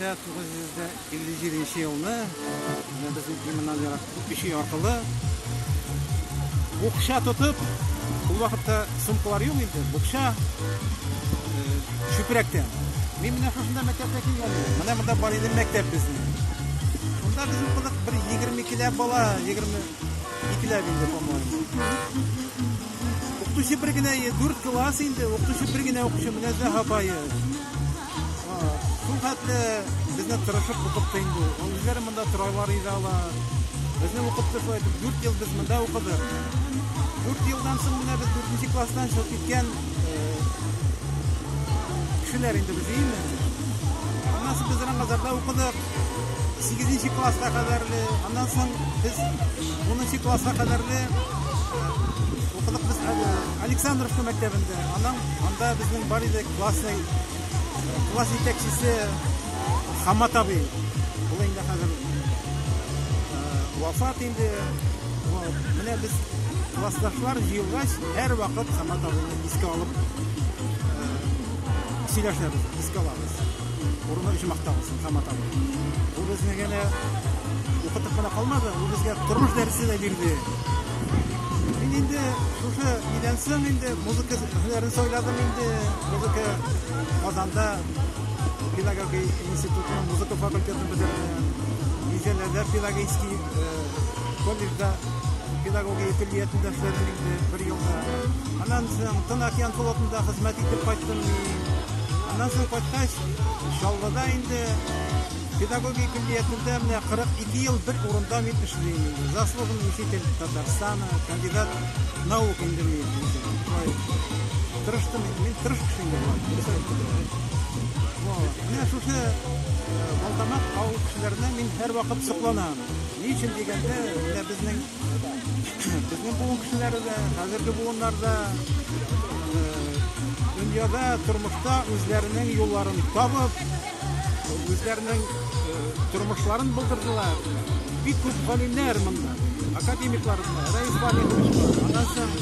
957 нче елны менә безнең иманнан ерак кеше аркылы букча тотып ул вакытта сумкалар юк инде букча э, чүпрәктән мин менә шушында мәктәпкә килгән идем менә монда бар иде мәктәп безнең монда безнең кызык бер егерме икеләп бала егерме икеләп инде по моему укытучы бер генә дүрт класс инде укытучы бер генә укытучы менә зәһабае Шул хәтле безне тырышып укытты инде. Ул үзләре монда торалар иде алар. Безне укытты шулай итеп 4 ел без монда укыдык. 4 елдан соң менә без 4 класстан чыгып киткән кешеләр инде без име. Аннан соң без Рамазарда укыдык. 8 класска кадәрле, аннан соң без 10 класска кадәрле укыдык без Александровка мәктәбендә. Аннан анда безнең бар иде Классның класс итәкчесе Хамат абый. Ул инде хәзер вафат инде. Менә без классташлар җыелгач, һәр вакыт Хамат абыйны искә алып сөйләшәбез, искә алабыз. Урыны өчен мактабыз Хамат абый. Ул безне генә укытып кына калмады, ул безгә тормыш дәресе дә бирде. Мин инде шушы нидән соң инде музыка һөнәрен сайладым инде. Музыка Казанда педагогия институтының музыка факультетын бетердем. Низәләрдә педагогический э, колледжда педагогия көллиятендә эшләдем инде бер елда. Аннан соң Тын океан флотында хезмәт итеп кайттым мин. Аннан соң кайткач, Чаллыда инде Педагогия көллиятендә менә 42 ел бер урында мин эшлим. Заслуженный учитель Татарстана, кандидат наук инде мин. Тырыштым, мин тырыш кеше инде була. Менә шушы Балтамак авыл кешеләренә мин һәрвакыт сокланам. Ни өчен дигәндә, менә безнең Безнең буын кешеләре дә, хәзерге буыннар да дөньяда, тормышта үзләренең юлларын табып, үзләренең тормышларын булдырдылар. Бик күп галимнәр монда, академиклар, Раиф Валерьевич, аннан соң